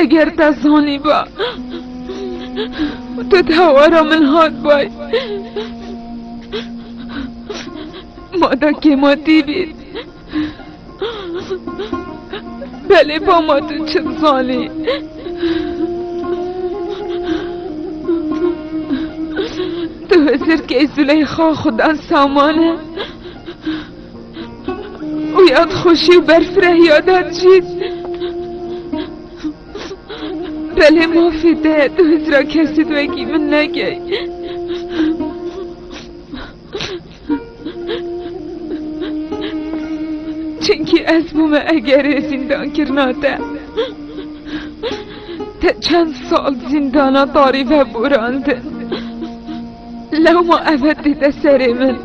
Eger te zanîba te hewara min hat bay ma da kêmatî bît Belê bama tu çi dizanî? Tu hizirkê Züleyxa xudan saman e û yad xweşî û berfrehiya da dicît. Belê mafê te tu hizra kesî wekî min nekey. Çimkî ez bûme egerê zîndankirina te. Te çend sal zîndana tarî veborandin. Lewma ev e dide serê min.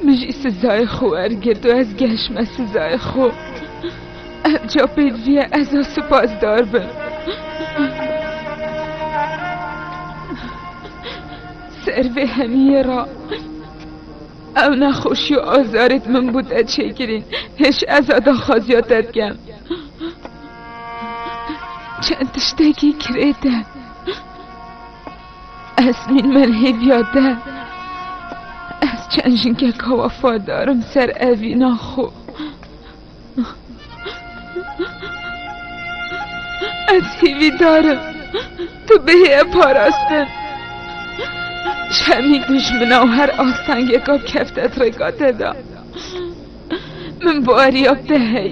Min jî sizayê xwe wergirt û ez gehişme sizayê xwe. Ev ca pêdiviye ez a sipasdar bim. Ser vê hemiyê ra ew nexweşî û azarê min bû te çêkirîn. Hêj ez a daxwaziya te dikem. Çend tiştekî kirê te Ez nîn merhêviya te Ez çend jinkeka wefadarim ser evîna xwe Ez hîvîdarim tu bihê parastin Şemî dijmina û her astengeka kefte trêka te da Min bariya te hey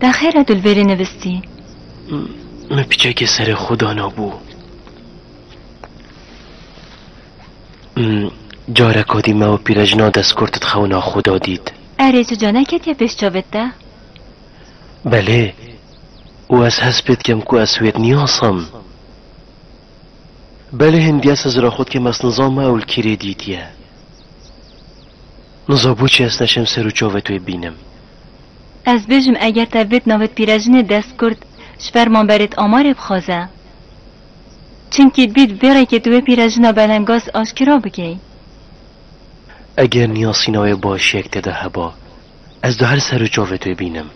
Te xêre tu li vê rê nivistî? Min piçekê serê xwe danabû. Careka dî me û pîrejina destkurtit xewna xwe da dît. Erê tu ca neketiye pêş çavê te? Belê. Û ez hez pê dikim ku ez wê niyasim. Belê hindiye ez hizira xwe dikim ez nizam me ew li kî rê dîtiye. Niza boçî ez neçim ser û çavê twê bînim. Ez bêjim eger te vêt navêt pîrejinê dest kurt ji ber man berêt amarê bixwaze. Çimkî dît vê rêkê tu wê pîrejina belengaz aşkera bikey. Eger niyasîna wê başiyek te de heba, ez di her ser û çavê tê bînim.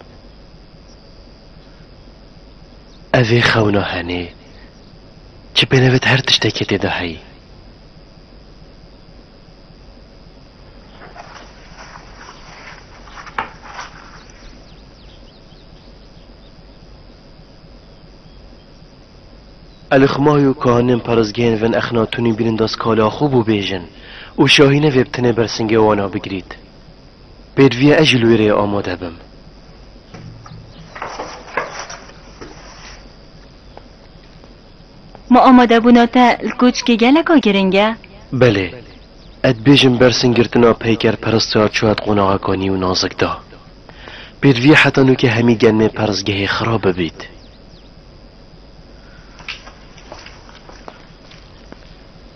Ev ê xewna henê, çi pênevêt her tiştekê tê de heyî. Elixma û kahinên perizgehên vin Exnatunî bînin da skala xwe bû bêjin û şahîne vê bi tenê bersingê wan a bigirît. Pêdiviya ez jî li wê rê amade bim. Ma amadebûna te li koçikê geleka giring e. Belê. Ez dibêjim bersîn girtina peykerperist ya çûya di qonaxa kanî û nazik de. Pêdivî heta nûkê hemî genmê perzgehê xirab bibît.